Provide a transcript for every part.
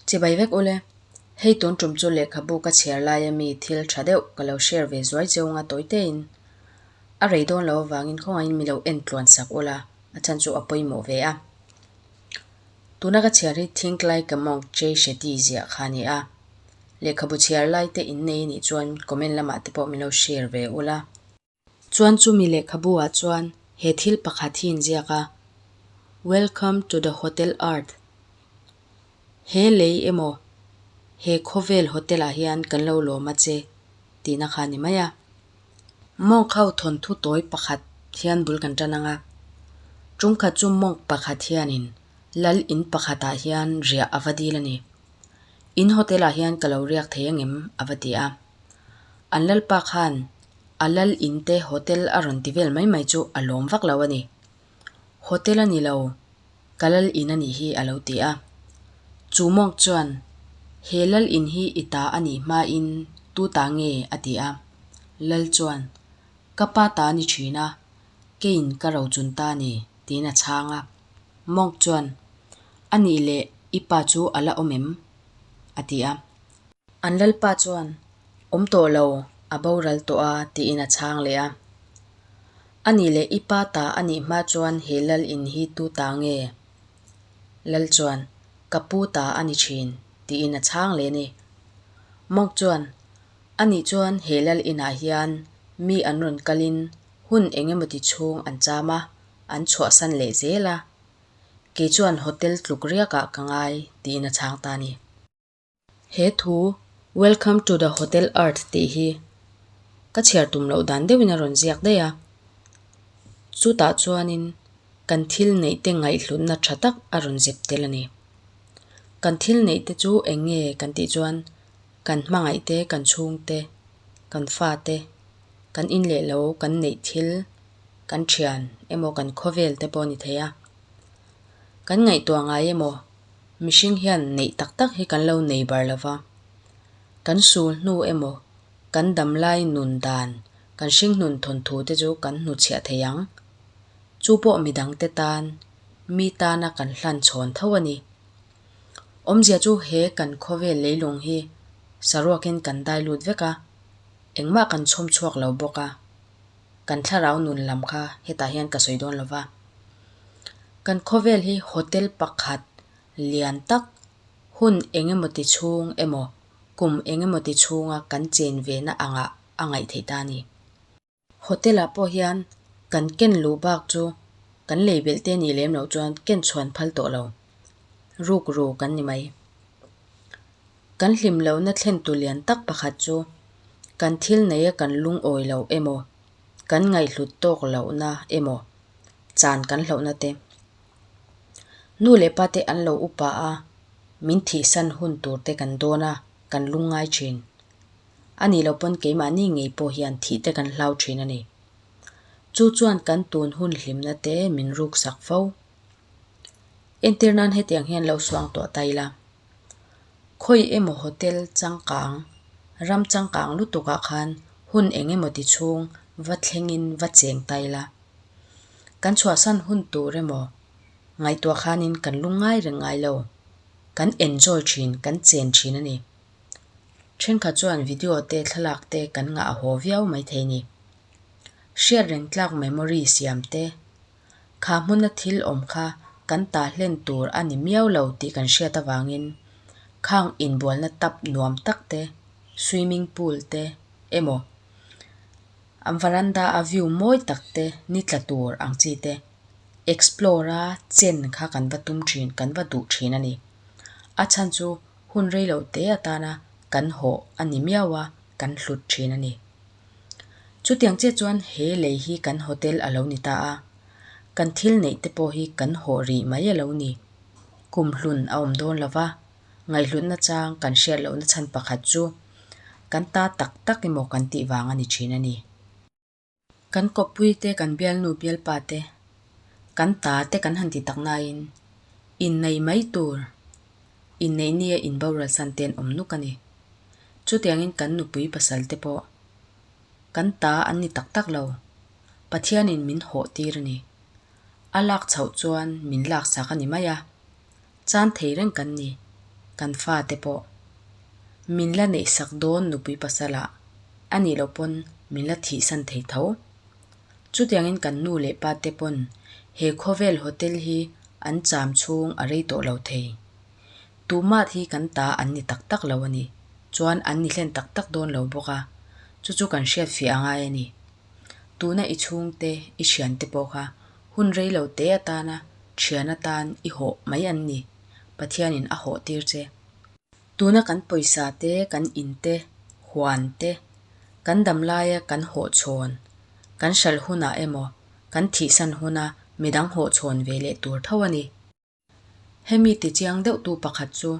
Che bai vek ule. Hei tun tum chu lehkhabu ka chhiar laia mi thil tha deuh ka lo share ve zuai zeuh anga tawitein a rei dawn lo avangin khawngain mi lo en tluan sak ula a chhan chu a pawimawh ve a. Tuna ka chhiar hi Think Like a Monk Jay Shetty ziah kha a ni a. Lehkhabu chhiar laite innei a nih chuan comment lamah te pawh min lo share ve ula. Chuan chumi lehkhabuah chuan he thil pakhat hi inziak a, Welcome to the Hotel Art. He lei emaw he khawvel hotel-ah hian kan lo lawm a che tihna kha a ni mai a. Monk ho thawnthu tawi pakhat hian bul kan tan ang a. Chungkhat chu monk pakhat hianin lal in pakhatah hian riah a va dil a ni. In hotel ah hian ka lo riak thei ang em? a va ti a. An lalpa khan a lal in te hotel a rawn ti vel mai mai chu a lawm vak lo a ni. Hotel a ni lo, ka lal in a nih hi a lo ti a. Chu monk chuan, He lal in hi i ta a nih hma in tu ta nge? a ti a. Lal chuan, Ka pa ta a ni thin a, keiin ka ro chun ta a ni, tiin a chhang a. Monk chuan, A nih leh, i pa chu a la awm em? a ti a. An lalpa chuan, Awm tawh lo, a boral tawh a tiin a chhang leh a. A nih leh, i pa ta a nih hma chuan he lal in hi tu ta nge? Lal chuan, Ka pu ta a ni thin, tiin a chhang leh ni. Monk chuan, A nih chuan he lal inah hian mi an rawn kalin hun eng emaw ti chhung an cham a, an chhuahsan leh zel a, kei chuan hotel tluk riakah ka ngai tiin a chhang ta a ni. He thu Welcome to the Hotel Earth tih hi ka chhiar tum loh dan deuhin a rawn ziak daih a, chutah chuanin kan thil neihte ngaihhlutna tha tak a rawn zep tel a ni. Kan thil neihte chu eng nge kan tih chuan kan hmangaihte, kan chhungte, kan fate, kan inleh lo kan neih thil, kan thian emaw kan khawvel te pawh a ni thei a, kan ngaihtuah ngai emaw mihring hian neih tak tak hi kan lo nei bar lo va, kan sul hnu emaw kan dam lai nun dan kan hringhnun thawnthu te chu kan hnu chhiah thei ang, chu pawh mi dang te tan mi tana kan hlan chhawn tho a ni. Awmzia chu he kan khawvel leilung hi saruakin kan dai lut vek a, engmah kan chhawm chhuak lo bawk a. kan thlarau nun lam kha hetah hian ka sawi dawn lo va, kan khawvel hi hotel pakhat lian tak hun eng emaw ti chhung emaw kum eng emaw ti chhunga kan chen ve na angah a ngaih theih ta a ni. Hotel ah pawh hian kan ken luh bak chu kan lei belh te nih lem loh chuan ken chhuan phal tawh lo, ruk ru kan ni mai. Kan hlim lohna thlentu lian tak pakhat chu kan thil neia kan lungawi lo emaw, kan ngaihhlut tawk lohna emaw chan kan hlauhna te. Nu leh pa te an lo upa a min thihsan hun tur te kan dawn a, kan lung ngai thin. A nih loh pawn keimahni ngei pawh hian thih te kan hlau thin a ni. Chu chuan kan tun hun hlimna te min ruksak fo. Entir nan hetiang hian lo suangtuah ta ila. Khawi emaw hotel changkang, ram changkang lutukah khan hun eng emaw ti chhung va thlengin va cheng ta ila, kan chhuahsan hun tur emaw ngaihtuah khanin kan lu ngai reng ngai lo, kan enjoy thin, kan chen thin a ni. Thenkhat chuan video te thlalak te kan ngah a haw viau mai thei a ni. Hriatrengtlak memory siam te, Kha hmuna thil awm kha kan tah hlen tur a ni miau lo tih kan hriat avangin khang inbualna tap nuam tak te, swimming pool te emaw, an varanda a view mawi tak te ni tla tur ang chi te explore a chen kha kan va tum thin, kan va duh thin a ni. A chhan chu hun rei lo te atana kan hawh a ni miau a, kan hlut thin a ni. Chutiang chiah chuan he lei hi kan hotel a lo ni ta a, kan thil neih te pawh hi kan hawh rih mai a lo ni. Kum hlun a awm dawn lo va, ngaihlunna chang kan hriat lohna chhan pakhat chu kan ta tak tak emaw kan tih vang a ni thin a ni. Kan kawppui te, kan bialnu bialpa te, kan ta te kan han ti tak naiin, innei mai tur inneih nia inboral san te an awm nuk a ni. Chutiangin kan nupui pasal te pawh kan ta an ni tak tak lo. Pathianin min hawh tir a ni. A lak chhoh chuan min lak sak a ni mai a. Chan thei reng kan ni, kan fa te pawh. Min la neih sak dawn nupui pasalah a nih loh pawn min la thih san thei tho. Chutiangin kan nu leh pa te pawn he khawvel hotel hi an cham chhung a rei tawh lo thei. Tumah hi kan ta an ni tak tak lo a ni, chuan an ni hlen tak tak dawn lo bawk a, chu chu kan hriat fiah a ngai a ni. Tuna i chhungte, i thiante pawh kha hun rei lo te atana thian atan i hawh mai an ni, Pathianin a hawh tir che. Tuna kan pawisa te, kan in te, huan te, kan dam laia kan hawh chhawn, kan hralh hunah emaw, kan thihsan huna midang hawh chhawn ve leh tur tho a ni. Hemi tichiang deuhtu pakhat chu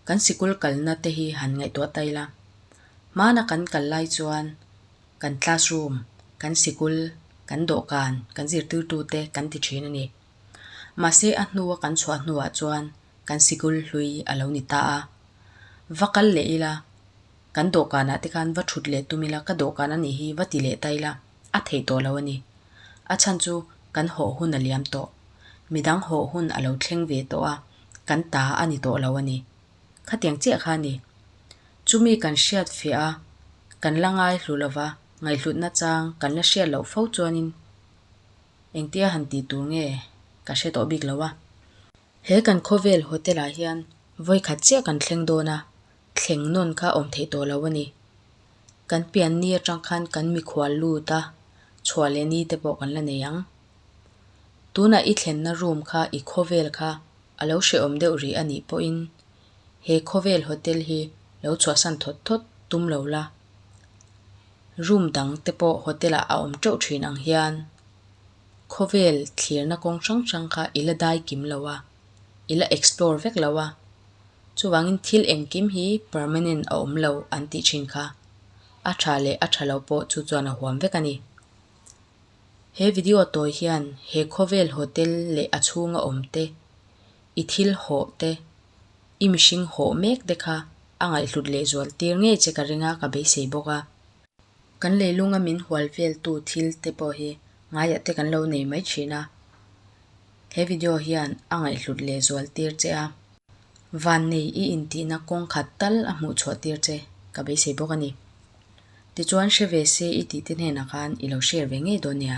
kan sikul kalna te hi han ngaihtuah ta ila. Hmana kan kal lai chuan kan classroom, kan sikul, kan dawhkan, kan zirtirtu te kan ti thin a ni. Mahse a hnua kan chhuah hnuah chuan kan sikul hlui a lo ni ta a. Va kal leh ila, kan dawhkanah te khan va thut leh tum ila, ka dawhkan a nih hi va ti leh ta ila, a theih tawh lo a ni. A chhan chu kan hawh hun a liam tawh, midang hawh hun a lo thleng ve tawh a, kan ta a ni tawh lo a ni. Khatiang chiah kha a ni. Chumi kan hriat fiah a, kan la ngai hlu lo va, ngaihhlutna chang kan la hriat loh fo chuanin engtia han ti tur nge ka hre tawh bik lo a. He kan khawvel hotel-ah hian vawikhat chiah kan thleng dawn a, thleng nawn kha awm theih tawh lo a ni. Kan pian ni atang khan kan mikhual lut a, chhuah leh ni te pawh kan la nei ang. Tunah i thlenna room kha, i khawvel kha a lo hrehawm deuh rih a nih pawhin, he khawvel hotel hi lo chhuahsan thawt thawt tum lo la. Room dang te pawh hotel-ah a awm teuh thin ang hian. khawvel thlirna kawng hrang hrang kha i la dai kim lo a, i la explore vek lo a. Chuvangin thil engkim hi permanent a awm lo an tih thin kha, a tha leh a tha lo pawh chu chuan a huam vek a ni. He video a tawi hian he khawvel hotel leh a chhunga awm te, i thil hawh te, i mihring hawh mek te kha a ngaihhlut lehzual tir ngei che ka ring a, ka beisei bawk a. Kan leilunga min hual veltu thil te pawh hi ngaiah te kan lo nei mai thin a, he video hian a ngaihhlut leh zual tir che a, vannei i intihna kawng khat tal a hmuh chhuah tir che ka beisei bawk a ni. Tichuan hre ve se i tihte hnenah khan i lo share ve ngei dawn nia.